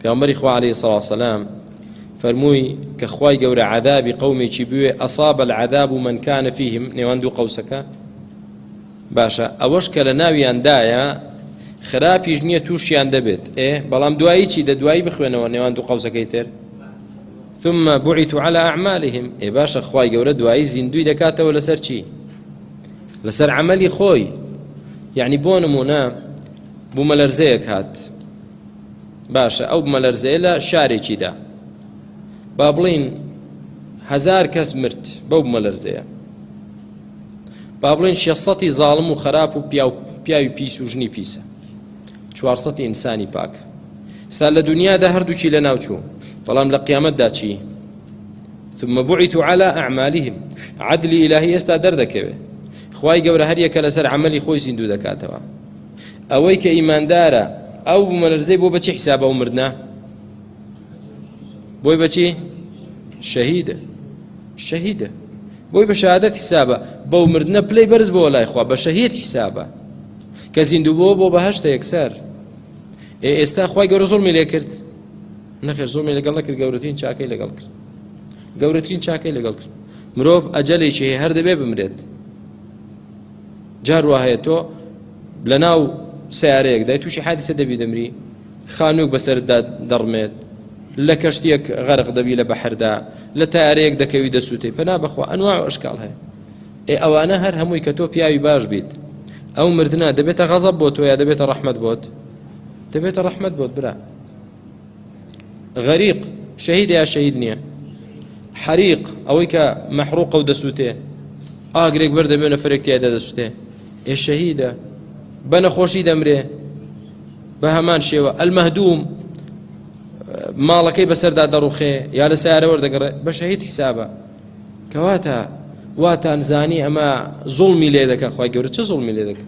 پێامبەری خوا علیە سڵاو سلام فەرمووی کە خوای گەورە عذابی قومێکی بوێ ئەساب العذاب و من کان فیهم نێوان دوو قەوسەکە باشە ئەوەش کە لە ناویاندایە خراپیش نییە تووشیان دەبێت ئێ بەڵام دوایی چی دە دوایی بخوێنەوە نێوان دوو قەوسەکەی تر ثم بعث على اعمالهم ئێ باشە خوای گەورە دوایی زیندوی دەکاتەوە لەسەر چی لەسەر عملی خۆی یعنی بۆ نمونە بوومەلەرزەیەک هات باشە ئەو بمەلەرزەیە لە شارێکیدا با بڵین هزار کەس مرد بەو بمەلەرزەیە با بڵین شێسەتی زاڵم و خراپ و پیاوی پیس و ژنی پیسە چوارسەتی ئینسانی پاک ستا لە دنیادا هەردووکی لە ناوچوو بەڵام لە قیامەتدا چی ثم بعثوا على اعمالهم عدل الهی ئێستا دەردەکەوێت خوای گەورە هەریەکە لەسەر عملی خۆی زیندوو دەکاتەوە ئەوەی کە ئیماندارە ئەو بومەلەرزەی بۆ بەچی حیسابە ئەو مردە بۆی بەچی شەهیدە شەهیدە بۆی بە شادت حیسابە بەو مردە پلەی بەرز بۆ لای خوا بە شەهید حیسابە کە زیندوو بۆ بۆ بەهشتە یەکسەر ئێ ئێستا خی گەورە زۆڵمی لێ کرد نەخێر زۆڵمی لەگەڵ نەکرد گەورەترین چاکەی لەگەڵ کرد گەورەترین چاکەی لەگەڵ کرد مرۆڤ ئەجەلێکی هەیە هەر دەبێ بمرێت جار واهەیە تۆ لەناو سەیارەیەکدای تووشی حادیسە دەبی دەمری خانووک بەسەردا دەڕمێت لە کەشتێک غەرق دەبی لە بەحردا لە تارەیەک دەکەوی دەسووتی پەنا بەخوا ئەنوا ئەشکال هەیە ئێ ئەوانە هەر هەمووی کە تۆ پیاوی باش بیت ئەو مردنا دەبێتە غەزە بۆ تۆ یا دەبێتە ڕەحمت بۆت دەبێتە ڕەحمت بۆت برا غەریق شەهیدە یا شەهید نییە حەریق ئەوەی کە مەحروقە و دەسووتێ ئاگرێک بەر دەبێ نەفرێک تایدا دەسووتێ ئێ شەهیدە بە نەخۆشی دەمرێ بە هەمان شێوە ئەلمەهدوم ماڵەکەی بەسەردا دەڕوخێ یا لە سیارە وەردەگەڕێ بە شەهید حیسابە کەواتە واتان زانی ئەمە زوڵمی لێ دەکە خخوای گەورە چ زوڵمی لێ دەکە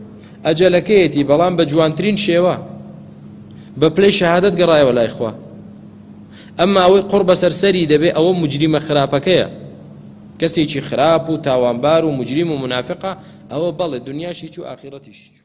ئەجەلەکەیەتی بەڵام بە جوانترین شێوە بە پلەی شەهادەت گەڕایەوە لای خوا ئەمما ئەوەی قڕ بەسەر سەری دەبێ ئەوە مجریمە خراپەکەیە کەسێکی خراپ و تاوانبار و مجریم و منافقە ئەوە بەڵێ دنیاشی چوو ئاخیرەتیشی چوو